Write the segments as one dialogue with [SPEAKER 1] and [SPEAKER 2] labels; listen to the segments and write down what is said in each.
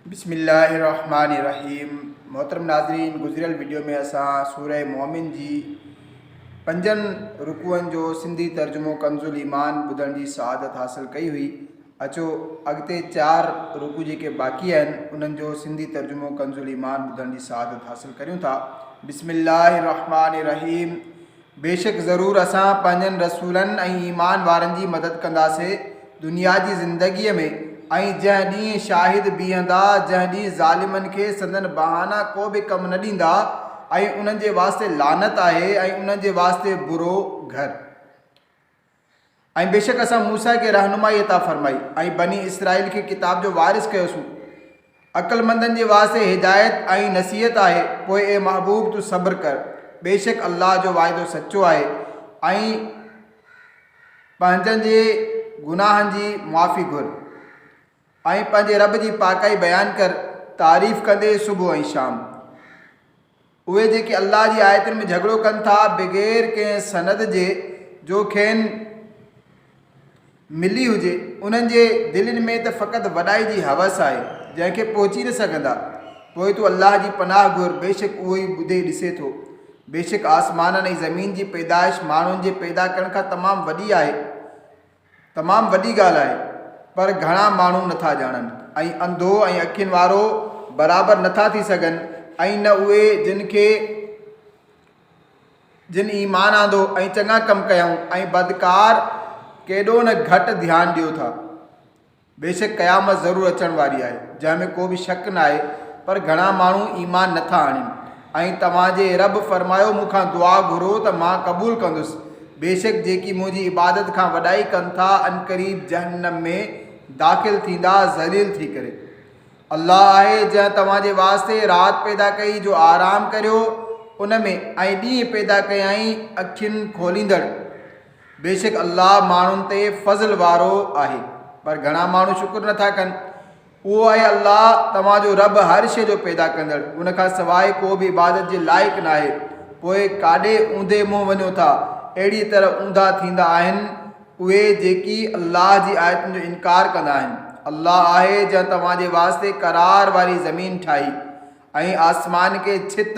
[SPEAKER 1] بسم الله الرحمٰن الرحيم محترم ناظرين گذريل ويڊيو ۾ اسان سوره مؤمن جي پنجن رڪوعن جو سنڌي ترجمو ڪنز الایمان ٻڌڻ جي سعادت حاصل ڪئي هئي اچو اڳتي چار رڪوع جيڪي باقي آهن انهن جو سنڌي ترجمو ڪنز الایمان ٻڌڻ جي سعادت حاصل ڪريون ٿا بسم الله الرحمٰن الرحيم بيشڪ ضرور اسان پنهنجن رسولن ۽ ايمان وارن جي مدد ڪنداسين دنيا جي زندگيء ۾، ۽ جنهن ڏينهن شاهد بيهندا، جنهن ڏينهن ظالمن کي سندن بهانا ڪو به ڪم نه ڏيندا، ۽ انهن جي واسطي لعنت آهي، ۽ انهن جي واسطي برو گهر. ۽ بيشڪ اسان موسيٰ کي رهنمائي عطا فرمائي ۽ بني اسرائيل کي ڪتاب جو وارث ڪيوسون. عقلمندن جي واسطي هدايت ۽ نصيحت آهي، پوء اي محبوب تون صبر ڪر، بيشڪ الله جو وعدو سچو آهي ۽ پنهنجن جي گناهن جي معافي گهر. ۽ پنهنجي رب جي پاڪائي بيان ڪر، تعريف ڪندي، صبح ۽ شام. اهي جيڪي الله جي آيتن ۾ جهڳڙو ڪن ٿا بغير ڪنهن سند جي جو کين ملي هجي، انهن جي دلين ۾ ته فقط وڏائي جي هوس آهي، جنهن کي پهچي نه سگهندا. پوء تون الله جي پناهه گهر، بيشڪ اهو ئي ٻڌي ڏسي ٿو. بيشڪ آسمانن ۽ زمين جي پيدائش ماڻهن جي پيدا ڪرڻ کان تمام وڏي آهي. تمام وڏي ڳالهه آهي پر گهڻا ماڻهو نٿا ڄاڻن ۽ انڌو ۽ اکين وارو برابر نٿا ٿي سگهن ۽ نه اهي جن کي جن ايمان آندو ۽ چڱا ڪم ڪيائون ۽ بدڪار ڪيڏو نه گهٽ ڌيان ڏيو ٿا. بيشڪ قيامت ضرور اچڻ واري آهي جنهن ۾ ڪو به شڪ ناهي پر گهڻا ماڻهو ايمان نٿا آڻين ۽ توهان جي اي رب فرمايو مون کان دعا گهرو ته مان قبول ڪندس بيشڪ جيڪي منهنجي عبادت کان وڏائي ڪن ٿا عنقريب جهنم ۾ داخل ٿيندا ذليل ٿي ڪري الله آهي جنهن توهان جي واسطي رات پيدا ڪئي جو آرام ڪريو ان ۾ ۽ ڏينهن پيدا ڪيائين اکين کوليندڙ بيشڪ الله ماڻهن تي فضل وارو آهي پر گهڻا ماڻهو شڪر نٿا ڪن. اهو آهي الله توهان جو رب هر شيء جو پيدا ڪندڙ ان کان سواء ڪو به عبادت جي لائق ناهي پوء ڪاڏي اوندهي منهن وڃو ٿا اهڙيء طرح اوندها ٿيندا آهن اهي جيڪي الله جي آيتن جو انڪار ڪندا آهن الله آهي جنهن توهان جي واسطي قرار واري زمين ٺاهي ۽ آسمان کي ڇت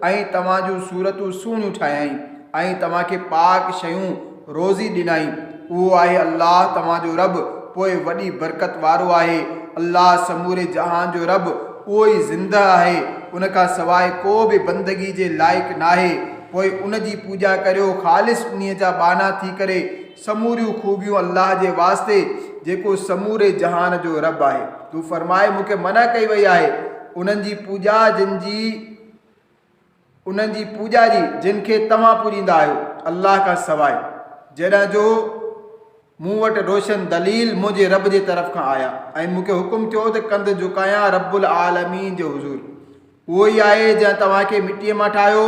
[SPEAKER 1] ۽ توهان جون صورتون سهڻيون ٺاهيائين ۽ توهان کي پاڪ شيون روزي ڏنائين، اهو آهي الله توهان جو رب پوء وڏي برڪت وارو آهي، الله سموري جهان جو رب اهو ئي زندهه آهي، ان کان سواء ڪو به بندگي جي لائق ناهي، پوء ان جي پوڄا ڪريو خالص انهيء جا ٻانها ٿي ڪري. سموريون خوبيون الله جي واسطي جيڪو سموري جهان جو رب آهي تون فرماء مون کي منع ڪئي وئي آهي انهن جي پوڄا جن جي انهن جي پوڄا جي جن کي توهان پوڄيندا آهيو الله کان سواء جڏهن جو مون وٽ روشن دليل منهنجي رب جي طرف کان آيا ۽ مون کي حڪم ٿيو ته ڪنڌ جهڪايان رب العالمين جي حضور اهو ئي آهي جنهن توهان کي مٽيء مان ٺاهيو،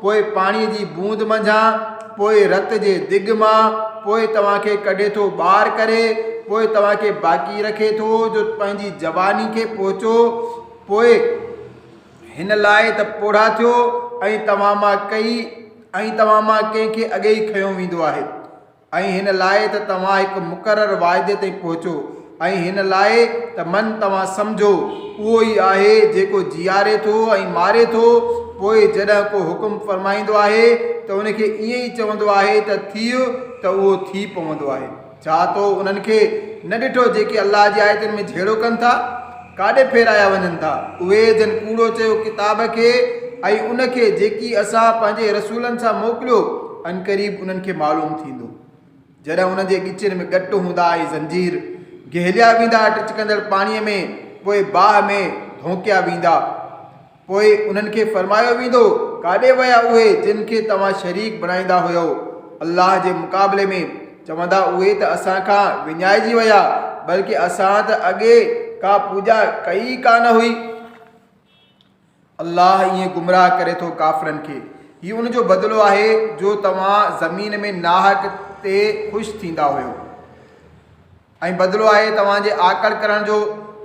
[SPEAKER 1] پوء پاڻيء جي بوند منجهان، پوء رت جي دڳ مان، پوء توهان کي ڪڍي ٿو ٻاهر ڪري، پوء توهان کي باقي رکي ٿو جو پنهنجي جواني کي پهچو، پوء هن لاء ته پوڙها ٿيو ۽ توهان مان ڪئي ۽ توهان مان ڪنهن کي اڳي ئي کنيو ويندو آهي. ۽ هن لاء ته توهان هڪ مقرر واعدي تائين پهچو ۽ هن لاء ته من توهان سمجهو، اهو ئي آهي جيڪو جيئاري ٿو ۽ ماري ٿو، پوء جڏهن ڪو حڪم فرمائيندو آهي ته ان کي ائين ئي چوندو آهي ته ٿيء ته اهو ٿي پوندو آهي. ڇا تو انهن کي نه ڏٺو جيڪي الله جي آيتن ۾ جهيڙو ڪن ٿا؟ ڪاڏي ڦيرايا وڃن ٿا. اهي جن ڪوڙو چيو ڪتاب کي ۽ ان کي جيڪي اسان پنهنجي رسولن سان موڪليو، عنقريب انهن کي معلوم ٿيندو. جڏهن انهن جي ڳچين ۾ ڳٽ هوندا ۽ زنجير، گهيليا ويندا ٽچڪندڙ پاڻيء ۾ پوء باهه ۾ ڌونڪيا ويندا. پوء انهن کي فرمايو ويندو، ڪاڏي ويا اهي جن کي توهان شريڪ بڻائيندا هيؤ الله جي مقابلي ۾، چوندا اهي ته اسان کان وڃائجي ويا، بلڪه اسان ته اڳي ڪا پوڄا ڪئي ئي ڪا نه هئي. الله ائين گمراهه ڪري ٿو ڪافرن کي. هي ان جو بدلو آهي جو توهان زمين ۾ ناحق تي خوش ٿيندا هيؤ. ۽ بدلو آهي توهان جي آڪڙ ڪرڻ جو،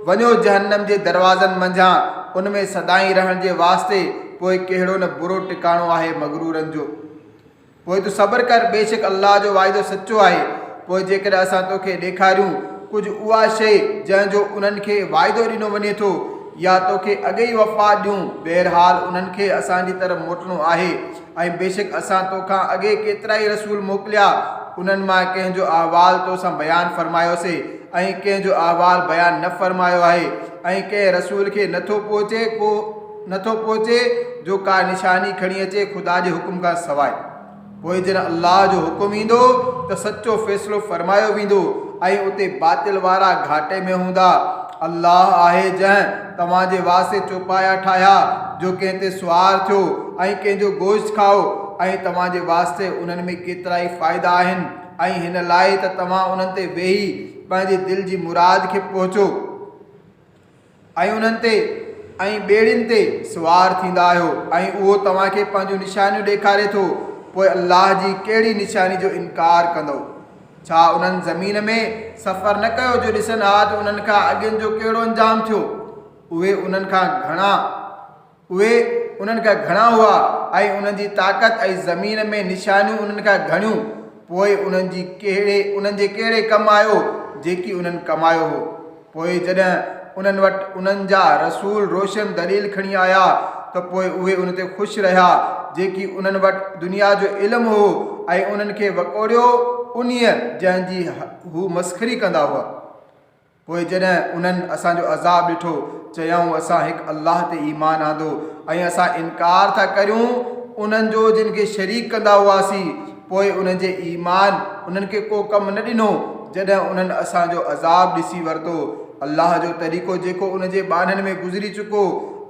[SPEAKER 1] وڃو جهنم جي دروازن منجهان، ان ۾ سدائين رهڻ جي واسطي، پوء ڪهڙو نه برو ٽڪاڻو آهي مغرورن جو. پوء تون صبر ڪر، بيشڪ الله جو وعدو سچو آهي، پوء جيڪڏهن اسان توکي ڏيکاريون ڪجهه اها شيء جنهن جو انهن کي وعدو ڏنو وڃي ٿو، يا توکي اڳ ئي وفات ڏيون، بهرحال انهن کي اسان جي طرف موٽڻو آهي. ۽ بيشڪ اسان تو کان اڳي ڪيترائي رسول موڪليا، انهن مان ڪنهن جو احوال تو سان بيان فرمايوسي ۽ ڪنهن جو احوال بيان نه فرمايو آهي ۽ ڪنهن رسول کي نه ٿو پهچي ڪو نه ٿو پهچي جو ڪا نشاني کڻي اچي خدا جي حڪم کان سواء پوء جڏهن الله جو حڪم ايندو ته سچو فيصلو فرمايو ويندو ۽ اتي باطل وارا گهاٽي ۾ هوندا الله آهي جنهن توهان جي واسطي چوپايا ٺاهيا جو ڪنهن تي سوار ٿيو ۽ ڪنهن جو گوشت کائو ۽ توهان جي واسطي انهن ۾ ڪيترائي فائدا آهن ۽ هن لاء ته توهان انهن تي ويهي پنهنجي دل جي مراد کي پهچو ۽ انهن تي ۽ ٻيڙين تي سوار ٿيندا آهيو ۽ اهو توهان کي پنهنجون نشانيون ڏيکاري ٿو پوء الله جي ڪهڙي نشاني جو انڪار ڪندؤ ڇا انهن زمين ۾ سفر نه ڪيو جو ڏسن ها ته انهن کان اڳين جو ڪهڙو انجام ٿيو؟ اهي انهن کان گهڻا اهي انهن کان گهڻا هئا ۽ انهن جي طاقت ۽ زمين ۾ نشانيون انهن کان گهڻيون، پوء انهن جي ڪهڙي انهن جي ڪهڙي ڪم آيو جيڪي انهن ڪمايو هو؟ پوء جڏهن انهن وٽ انهن جا رسول روشن دليل کڻي آيا ته پوء اهي ان تي خوش رهيا جيڪي انهن وٽ دنيا جو علم هو ۽ انهن کي وڪوڙيو انهيء جنهن جي هو مسخري ڪندا هئا. پوء جڏهن انهن اسان جو عذاب ڏٺو چيائون اسان هڪ الله تي ايمان آندو ۽ اسان انڪار ٿا ڪريون انهن جو جن کي شريڪ ڪندا هئاسين. پوء انهن جي ايمان انهن کي ڪو ڪم نه ڏنو جڏهن انهن اسان جو عذاب ڏسي ورتو. الله جو طريقو جيڪو انهن جي ٻانهن ۾ گذري چڪو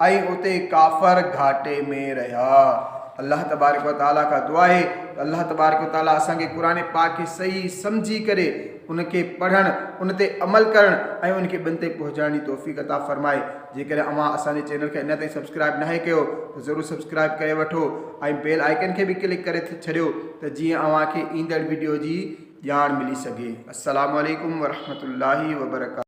[SPEAKER 1] ۽ اتي ڪافر گهاٽي ۾ رهيا. الله تبارڪ وتعاليٰ کان دعا آهي ته الله تبارڪ وتعاليٰ اسان کي قرآن پاڪ کي صحيح سمجهي ڪري ان کي پڙهڻ، ان تي عمل ڪرڻ ۽ ان کي ٻين تائين پهچائڻ جي توفيق عطا فرمائي. جيڪڏهن اوهان اسان جي چينل کي اڃا تائين سبسڪرائيب ناهي ڪيو ته ضرور سبسڪرائيب ڪري وٺو ۽ بيل آئيڪن کي به ڪلڪ ڪري ڇڏيو ته جيئن اوهان کي ايندڙ وڊيو جي ڄاڻ ملي سگهي. السلام عليڪم ورحمة الله وبرڪاته.